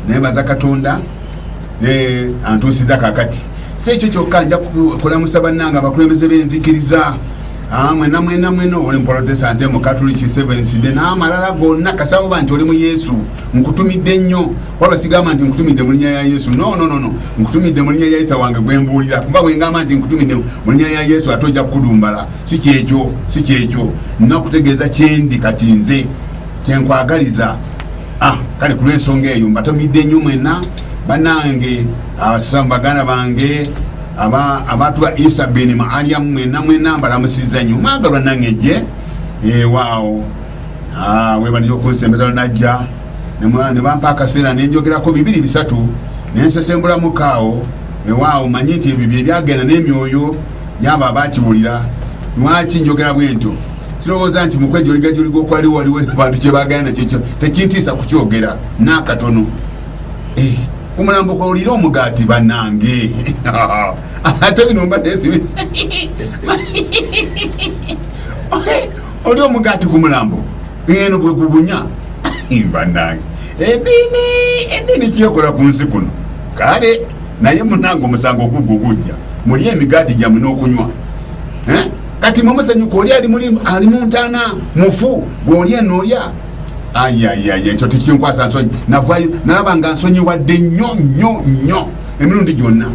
nebaza katonda ne antuusiza kakati si ekyo kyokka nja kukulamusa bannanga abakulembeze b'enzikiriza ah, mwena mwena mwena oli muprotestante mukatuliki sevenside n'amalala gonna kasaba nti oli mu yesu nkutumidde nnyo waba sigamba nti nkutumidde mu linnya ya yesu nononono nkutumidde mu linnya ya isa wange gwe mbuulira kuba bwe ngamba nti nkutumidde mu linnya ya yesu ate ojja kukudumbala si kyekyo si kyekyo nnakutegeeza kyendi kati nze kyenkwagaliza Ah, kale ku lw'ensonga eyo mbatomidde nnyo mwena banange abasiraamu baganda bange abantu ba isa bini maaliyamu mwena mwena mbalamusiza nnyo mwagalwa nange je ewaawo ah, webanira okunsembezalo najja nebampa akaseera nenjogerako bibiri bisatu nensesembulamukaao ewaawo manyi nti ebyo byebyagenda n'emyoyo byabo abakiwulira lwaki njogera bwentyo kirowooza nti mukwejoligajolig okwali waliwo abantu kyebagana nakyo tekintiisa kukyogera nakatono eh, omulambo kwolira omugaati banange ate bino mbadesibi oli omugaati ku mulambo eno bwe gubunya banange edini edini kyekola ku nsi kuno kale naye munange omusango ogugwo gujja muli emigaati gyamwe n'okunywa eh? kati mwe musanyuka oli ali mulimu ali mu ntaana mufu gweolya noolya ayayaya ekyo tekinkwasa nsonyi navayo nalaba nga nsonyiwadde nnyo nnyo nnyo emirundi gyonna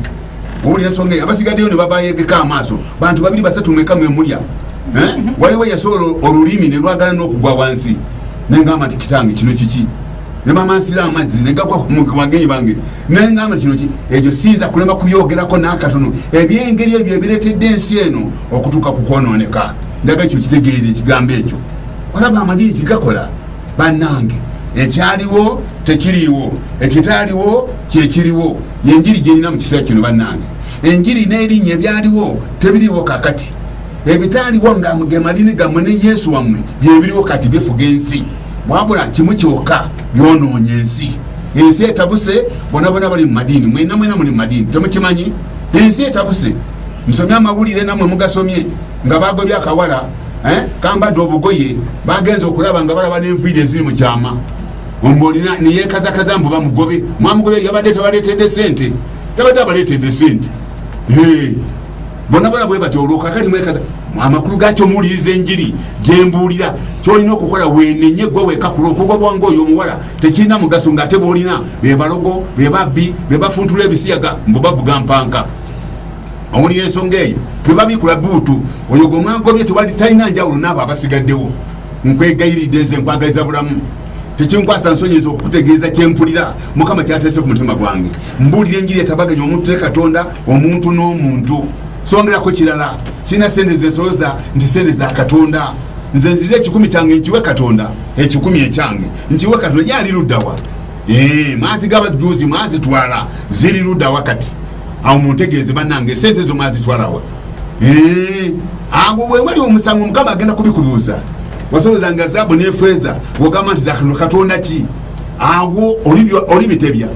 owuli ensonga eyo abasigaddeyo ne babayegeka amaaso bantu babiri basatu mweka mwe mulya eh? waliwo yasobola olulimi ne lwagala n'okugwa wansi nengamba nti kitange kino kiki ne bamansira amazzi ne gagwa ku bagenyi bange naye ngamba kino ki ekyo siyinza kulema kubyogerako n'akatono ebyengeri ebyo ebireetedde ensi eno okutuuka ku kwonooneka njaga ekyo kitegeera ekigambo ekyo olaba amadiini kigakola bannange ekyaliwo tekiriiwo ekitaaliwo kyekiriwo yenjiri gyerina mu kiseera kino bannange enjiri n'erinnya ebyaliwo tebiriiwo kakati ebitaaliwo nga ge malini gammwe ne yesu wammwe byebiriwo kati bifuga ensi wabula kimu kyokka byonoonye ensi ensi etabuse bona bona bali mu madiini mwena mwena muli mu madiini temukimanyi ensi etabuse musomye amawulire namwe mugasomye nga bagobye akawala eh, kambadde obugoye bagenza okulaba nga balaba nenviiri eziri mu kyama ombolina neyekazakaza mbu bamugobe mwamugobe yabadde tabaletedde sente yabadde abaletedde sente bona bona bwe batyo olwo kakati mwekaza amakulu gakyo muwuliriza enjiri gyembuulira kyolina okukola wenenye gwe weka ku lwokuba bwange oyo omuwala tekirina mugaso ngaate bwolina bebalogo bebabbi bebafuntula ebisiyaga mbu bavuga mpanka owuli ensonga eyo bebabikula buutu oyo gwe mwagobye tewali talina njawulo naabo abasigaddewo nkwegayiridde nze nkwagaliza bulamu tekinkwasa nsonyi ezo okukutegeeza kyempulira mukama kyateese ku mutima gwange mbuulira enjiri etabaganya omuntu ne katonda omuntu n'omuntu songerako kirala sirina sente zensoloza nti sente za katonda nze nzirira ekikumi kyange nkiwe katonda ekikumi ekyange nkiwe katonda yali luddawa eh, maazi gabajjuuzi mwazitwala ziri luddawa kati awo muntegeeze banange sente ezo mwazitwalawa awo wewali omusango mukama agenda kubikuluuza wasolooza nga zaabu nefeeza wogamba nti zakano katonda ki awo oli bitebya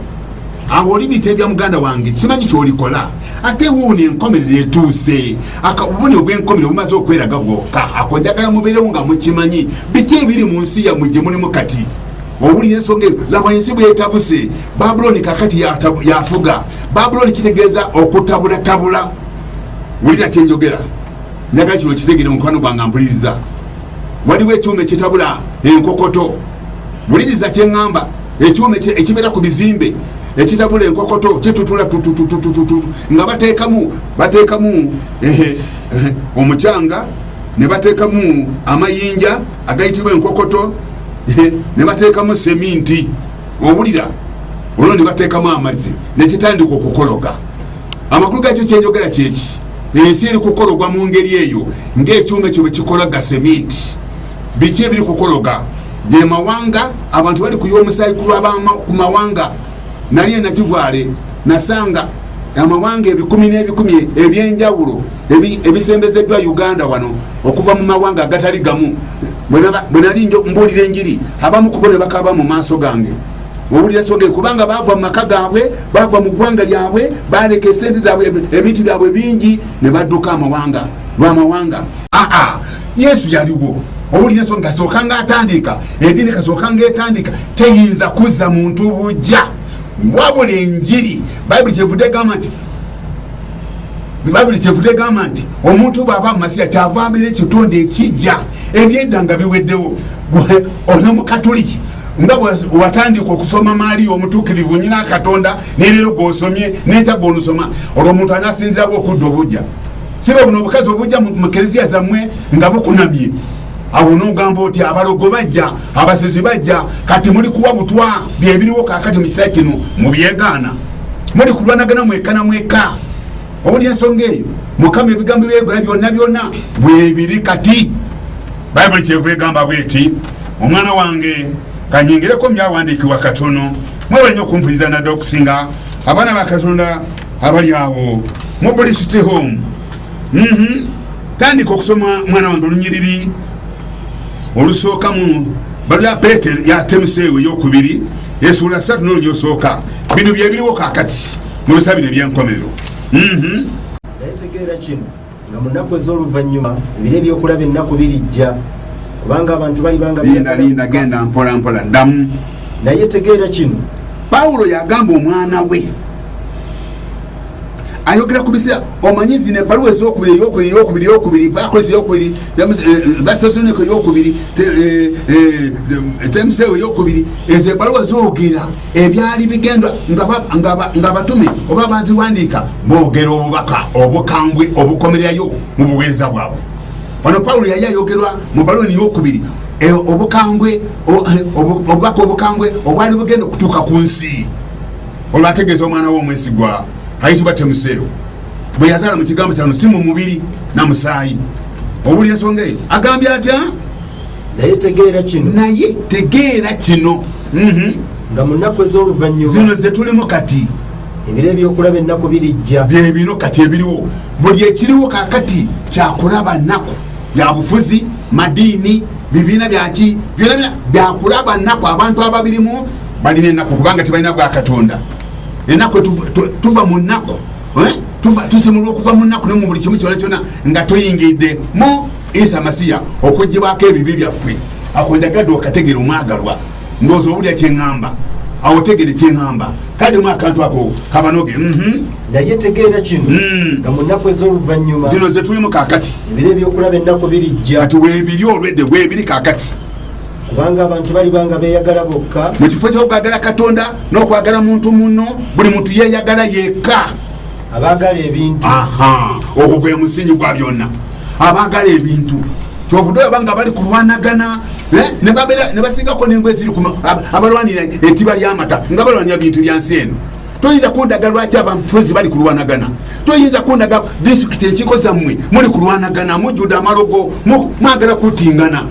awo oli bitebya muganda wange simanyi kyolikola ate wuuni enkomerero etuuse akabubuni obwenkomero bumaze okweraga bwoka akonjagala mubeerewo nga mukimanyi biki ebiri mu nsi yamwe gye mulimu kati owulira ensonga eyo laba ensi bwetabuse babuloni kakati yafuga babuloni kitegeeza okutabulatabula wulira kyenjogera njagala kino kizegere mukwano gwange mpuliriza waliwo ekyuma ekitabula enkokoto wuliriza kyeŋŋamba ekyuma ekibeera ku bizimbe ekitabula enkokoto kitutula tutututututu nga bateekamu bateekamu omucanga ne bateekamu amayinja agayitibwa enkokoto ne bateekamu seminti owulira olwo ne bateekamu amazzi nekitandika okukologa amakulu gakyo kyenjogera kyeki ensi eri kukologwa mu ngeri eyo ngaekyuma ekyo bwekikola gaseminti biki ebiri kukologa gemawanga abantu bali kuya omusaayi kulwabaku mawanga nali enakivaale nasanga amawanga ebikumi n'ebikumi ebyenjawulo ebisembezeddwa uganda wano okuva mu mawanga agatali gamu bwenali mbuulira enjiri abamu kubo ne bakaaba mu maaso gange owulira ensonga eyo kubanga baava mu maka gaabwe baava mu ggwanga lyabwe baleka esente zaabwe ebintu byabwe bingi ne badduka amawanga lwamawanga aa yesu yaliwo owulira ensonga kasooka nga atandika edini kasooka nga etandika teyinza kuzza muntu bujja wabula enjiri bayibuli kyevudde egamba nti bibabiri kyevude egamba nti omuntu bwaba mumasiya kyava abeera ekitonde ekijja ebyedda nga biweddewo ono mukatuliki nga watandika okusoma maali yomutukirivu nyina katonda nerero gwosomye nekya gwolusoma olwo omuntu anasinzirawo okudda obujja siba buno obukazi obujja mukereziya zamwe nga bukunamye awo nogamba oti abalogo bajja abasezi bajja kati muli kuwa butwa byebiriwo kakati mukisa kino mubyegaana muli kulwanagana mweka na mweka owulira ensonga eyo mukama ebigambo byegwa byonna byonna bwebiri kati bayibuli kyeva egamba bweti omwana wange kanyingireko mubyawandiikibwa katono mwebale nyo okumpuliriza nadde okusinga abaana ba katonda abali awo mu buli city home mhm. tandika okusoma mwana wange olunyiriri olusooka mu balya peter yatemuseewo eyokubiri esuula satu nolunya osooka bino byebiriwo kakati mu bisa bino ebyenkomerero mhm. nga mu nnaku ez'oluvannyuma ebiro ebyokulaba ennaku birijja kubanga abantu balibangaalinda genda mpola mpola ddamu naye tegeera kino pawulo yagamba omwana we ayogera ku biseera omanyi zino ebbaluwa ezokubiri eyokubiri eyokubiri eyokubiri akolesa eyokubiri basesonika eh, eh, eh, eyokubiri temuseewo eyokubiri ezo ebbaluwa zogera ebyali bigendwa ng'abatume oba baziwandiika boogera obubaka obukambwe obukomererayo mu buweereza bwabwe wano pawulo yali ayogerwa mu baloni yokubiri e, obukambwe eh, obubaka obukambwe obwali bugenda okutuuka ku nsi olwo ategeeza omwana we omwesigwa ayitibwa temuseero bwe yazaala mu kigambo kyano si mu mubiri na musaayi owuli ensonga eyo agambye atya naye tegeera kino naye tegeera kino mhm. nga mu nnaku ez'oluvannyuma zino ze tulimu kati ebiro ebyokulaba ennaku birijja bye bino kati ebiriwo buli ekiriwo kakati kyakulaba nnaku ya bufuzi madiini bibiina byaki byona bina byakulaba nnaku abantu ababirimu balina ennaku kubanga tebalina bwa katonda ennaku tuva mu nnaku eh? tusimulwa okuva mu nnaku ne mu buli kimu kyona kyona nga tuyingidde mu isa masiya okugibwako ebibi byaffe akunjagadde okategera omwagalwa ndoozi owulira kyeŋŋamba awo otegere kyeŋŋamba kaddemu akantu ako kabanoge mhm. naye tegeera kino hmm. nga mu nnaku ez'oluvannyuma zino ze tulimu kaakati ebiro ebyokulaba ennaku birijja kati weebiri olwedde weebiri kaakati kubanga abantu baliba nga beeyagala bokka mu kifo ky'okwagala katonda n'okwagala muntu munno buli muntu yeeyagala yekka abagala ebintu ogwo gwe musingi gwa byonna abagala ebintu kyovude oba nga bali kulwanagana eh, nebasingako nengo eziri abalwanira etiba lyamata nga balwanira bintu byansi eno toyinza kundaga lwaki abafuzi bali kulwanagana toyinza kundaga disitulikiti enkiko zammwe muli kulwanagana mujjude amalogo mwagala kutingana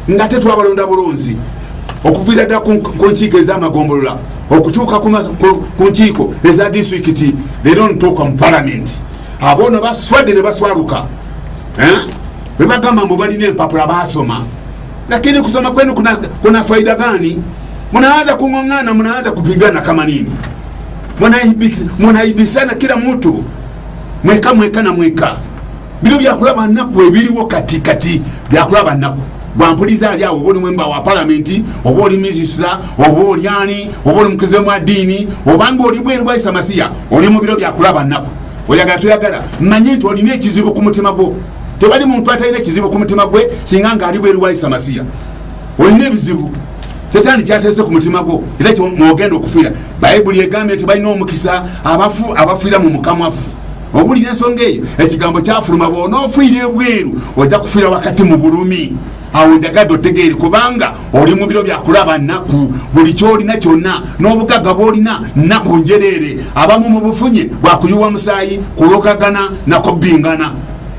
nga tetwabalonda bulunzi okuviira dda ku nkiiko ez'amagombolola okutuuka ku nkiiko eza disitulikiti leero ntuuka mu palamenti aboono baswadde ne baswaluka eh? bwe bagamba mbu balina empapula baasoma lakini kusoma kwenu kuna, kuna faida gani munaanza kung'ong'ana munaanza kupigana kama nini munaibisana kila mtu mweka mweka na mweka bino byakulaba nnaku ebiriwo kati kati byakulaba nnaku bwampuliza ali awo oba oli mwemba wa palamenti oba oli minisita oba oli ani oba oli mukirize mwa ddiini obanga oli bweru bwaisa masiya oli mu biro byakulaba nnaku oyagala toyagala mmanyi nti olina ekizibu ku mutima gwo tewali muntu atalina ekizibu ku mutima gwe singa ngaali bweru bwaisa masiya olina ebizibu tetani kyateese ku mutima gwo era kyomwogenda okufiira bayibuli egambye nti balina omukisa abafu abafiira mu mukamwafu owulira ensonga eyo ekigambo kyafuluma bwonaofuire ebweru ojja kufuira wakati mu bulumi awo njagadde otegeere kubanga oli mubiro byakulaba nnaku buli kyolina kyonna n'obugagga bwolina nnaku njereere abamu mu bufunye bwakuyiwa musaayi kulokagana nakubbingana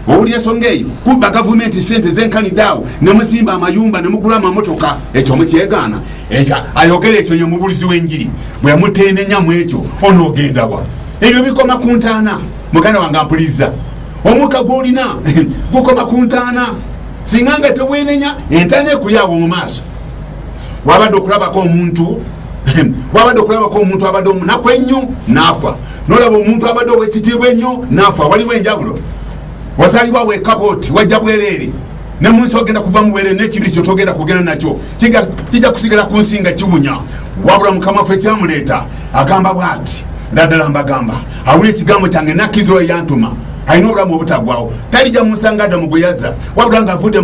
owulira ensonga eyo kubba gavumenti sente zenkanidaawo nemuzimba amayumba nemugula amamotoka ekyo mukyegaana ayogera ekyo yemubulizi w'enjiri bwemutenenya mu ekyo onoogendawa ebyo bikoma ku ntaana muganda wange ampulizza omukka gwolina gukoma ku ntaana singa nga tewenenya entaana ekulyawo mu maaso wabadde okulabako omuntu wabadde okulabako omuntu abadde omunaku ennyo naafa nolaba omuntu abadde owekitiibwa ennyo naafa waliwo enjawulo wazalibwa wekaba oti wajja bwereere nemunsi ogenda kuva mubwereere nekibi kyo togenda kugenda nakyo kijja kusigala ku nsinga kiwunya wabula mukama ffe kyamuleeta agamba bwati naddala mbagamba awula ekigambo kyange nakkiriza oyo yantuma alina obulamu obutagwawo talija munsanga adda mu gweyaza wabula nga avudde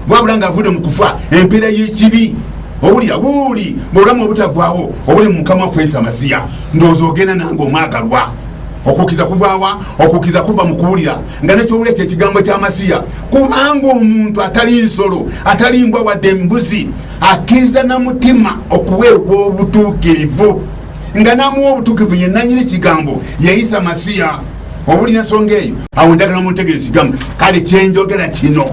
wabula nga avudde mu kufa empeera y'ekibi owulira wuuli ngaobulamu obutagwawo obuli mu mukama waffe isa masiya ndowooza ogenda nange omwagalwa okukiza kuvawa okukiza kuva mukuwulira nga nekyowula ekyo ekigambo kyamasiya kubanga omuntu atali nsolo atali mbwa wadde embuzi akkiriza na mutima okuweebwa obutuukirivu nga namuwa obutuukirivu ye nanyini kigambo yeyisa masiya obuli ensonga eyo awo njagala muntegere kigambo kale kyenjogera kino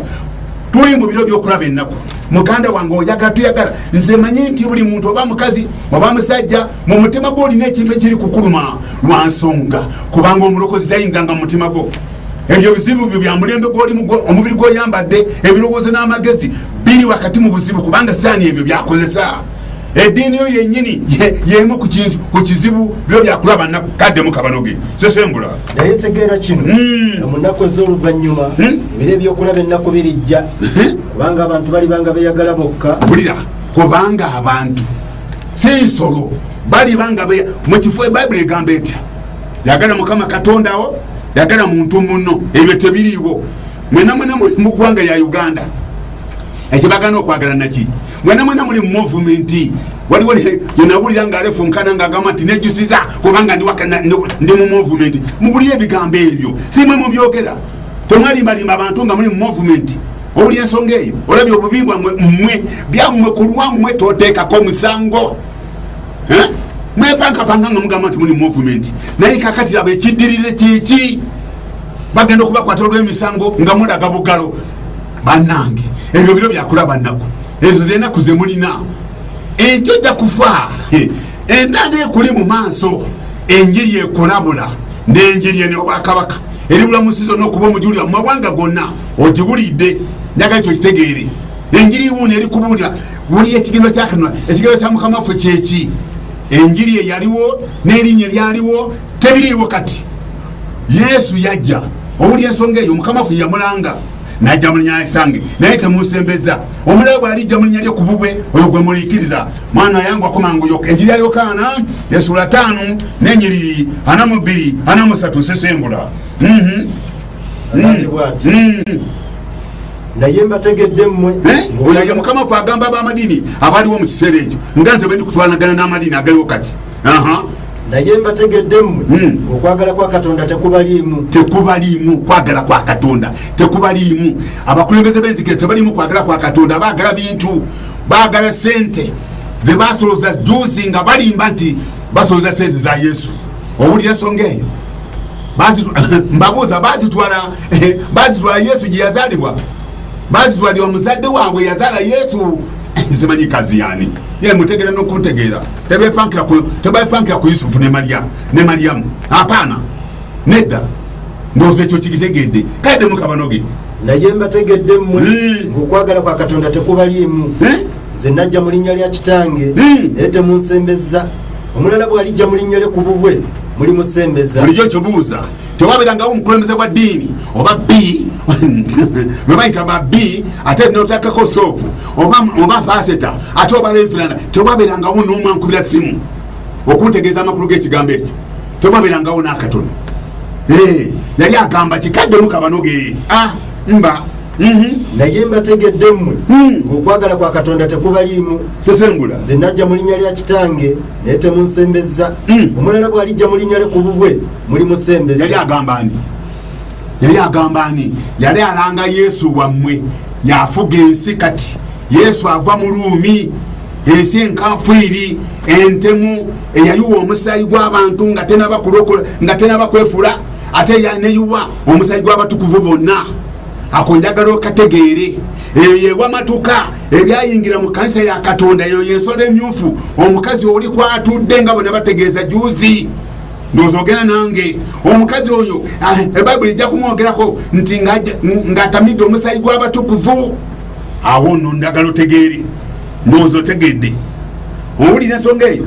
tuli mu biro byokulaba ennaku muganda wange oyagala tuyagala nze manyi nti buli muntu oba mukazi oba musajja mu mutima gwo olina ekintu ekiri kukuluma lwa nsonga kubanga omulokozi tayinganga mu mutima gwo ebyo bizibu byo bya mulembe gwolimu omubiri gwoyambadde ebirowoozo n'amagezi biri wakati mu buzibu kubanga saani ebyo byakozesa eddiini yo yenyini yemu ku kizibu byo byakulaba nnaku kaddemu kabanoge sesembula naye tegeera kino hmm. mu nnaku ez'oluvannyuma hmm? ebiro ebyokulaba ennaku birijja hmm? kubanga abantu balibanga beyagala bokka bulira kubanga abantu si nsolo balibanga mukifo bayibuli egamba etya yagala mukama katondawo yagala muntu muno ebyo tebiriiwo mwena mwena muli mu ggwanga lya uganda ekyebagana okwagala naki mwena mwena muli mu movumenti waliwo yenawulira nga alefunkana nga agamba nti nejusiza kubanga ndi mu movumenti mubulire ebigambo ebyo simwe mubyogera temwalimbalimba abantu nga muli mu movumenti owuli ensonga eyo olabye obubi bwamwe mmwe byammwe ku lwammwe toteekako musango eh? mwepankapanga nga mugamba nti muli movement naye kakati abo ekiddirire kyeki bagenda okubakwata olwemisango nga mulaga bugalo banange ebyo biro byakulaba nnaku ezo zenaku zemulina enti ojja kufa entana ekuli mu maaso enjiri ekulabula nenjiri ene obwakabaka eribulamusizo nokuba omujuli amumawanga gonna ogiwulidde njagala ekyo kitegeere enjiri wuuno erikubuulira wulira ekigendwa kyakanula ekigendwa kya mukama waffe kyeki enjiri eyaliwo nerinnya lyaliwo tebiriiwo kati yesu yajja owulira ensonga eyo mukama waffe yamulanga najja mulinya kisange naye temusembeza omulala bwalijja mulinya lyo kububwe oyo gwe mulikiriza mwana yangu akomangu yoka enjiri ya yokaana esula taano nenyiriri ana mubbiri ana musatu sesembula mm -hmm. naye mbategedde mmwe oyo ye mukama fe agamba abamadiini abaliwo mu kiseera ekyo nga nze bendi kutwanagana n'amadiini agaliwo kati naye mbategedde mmwe hmm. okwagala kwa katonda tekubaliimu tekubaliimu kwagala kwa katonda tekubaliimu abakulembeze b'enzikira tebaliimu kwagala kwa katonda baagala bintu baagala sente ze basoloza juzi nga balimba nti basoloza sente za yesu owulira ensonga eyo mbabuuza bazitwala eh, bazitwala yesu gye yazalibwa bazitwala omuzadde waabwe yazala yesu zimanyi kazi yani ye mutegera nokuntegeera tebepankira ku yusufu ne mariyamu apaana nedda ndowooza ekyo kikitegedde kale demukabanoge naye mbategedde mmwe hmm. ngaokwagala kwa katonda tekubaliimu hmm? nze najja mu linnya lya kitange hmm. naye temunsembezza omulala bw'alijja mu linnya lye ku bubwe muli musembeza bulijjo kyobuuza tewabeerangawo omukulembeze gwa ddiini oba b bebayita ba b ate notakako soopu oba paseta ate oba lefirana tewabeerangawo n'omu ankubira simu okuntegeeza amakulu g'ekigambo ekyo tewabeerangawo n'akatono eh, yali agamba kikaddemu kabanoge ah, mba Mhm. naye mbategedde mmwe hmm. ng'okwagala kwa katonda tekubaliimu sesengula nze najja mu linnya lya kitange naye temunsembezza hmm. omulala bw'alijja mu linnya lye ku bubwe muli musembeza yali agamba ani yali agamba ani yali alanga yesu wammwe yafuga ensi kati yesu ava mu ruumi ensi enkanfu iri entemu eyayiwa omusaayi gw'abantu nga tenaba kwefuula ate yaneyuwa omusaayi gw'abatukuvu bonna ako njagala okategeere eyo yewamatuka ebyayingira mu kanisa ya katonda eyo yensolo emyufu omukazi oli kwatudde nga bona bategeeza juzi ndowooza ogenda nange omukazi oyo ah, ebayibuli ejja kumwogerako nti ng'atamidde omusayi gw'abatukuvu awo no ndagala otegeere ndowooza otegedde owulira ensonga eyo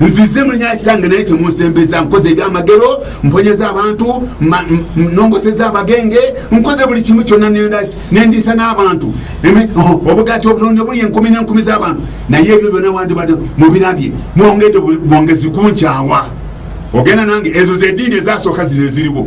nzize mu linya kitange naye temunsembeza nkoze ebyamagero mponyeza abantu nongoseza abagenge nkoze buli kimu kyonna nendiisa n'abantu obugati obulonde buli enkumi n'enkumi z'abantu naye ebyo byona wandibadde mubirabye mwongedde bwongezi kunkyawa ogenda nange ezo zediini ezasooka zino eziriwo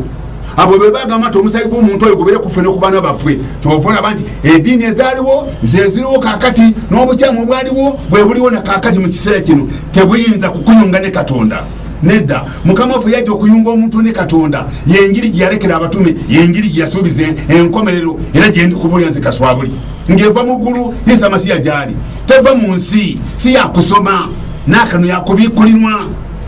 abo be bagamba nti omusayi gw'omuntu oyo gubere kuffe nokubana baffe kyova olaba nti ediini ezaliwo zeziriwo kakati n'obukyamu obwaliwo bwebuliwo na kakati mu kiseera kino tebuyinza kukuyunga ne katonda nedda mukama waffe yajja okuyunga omuntu ne katonda yenjiri gyeyalekera abatume yenjiri gyeyasuubiza enkomerero era gyendi kubulira nti kaswabuli ng'eva mu ggulu yesu amasiya gyali teva mu nsi si yakusoma n'akano yakubiikulinwa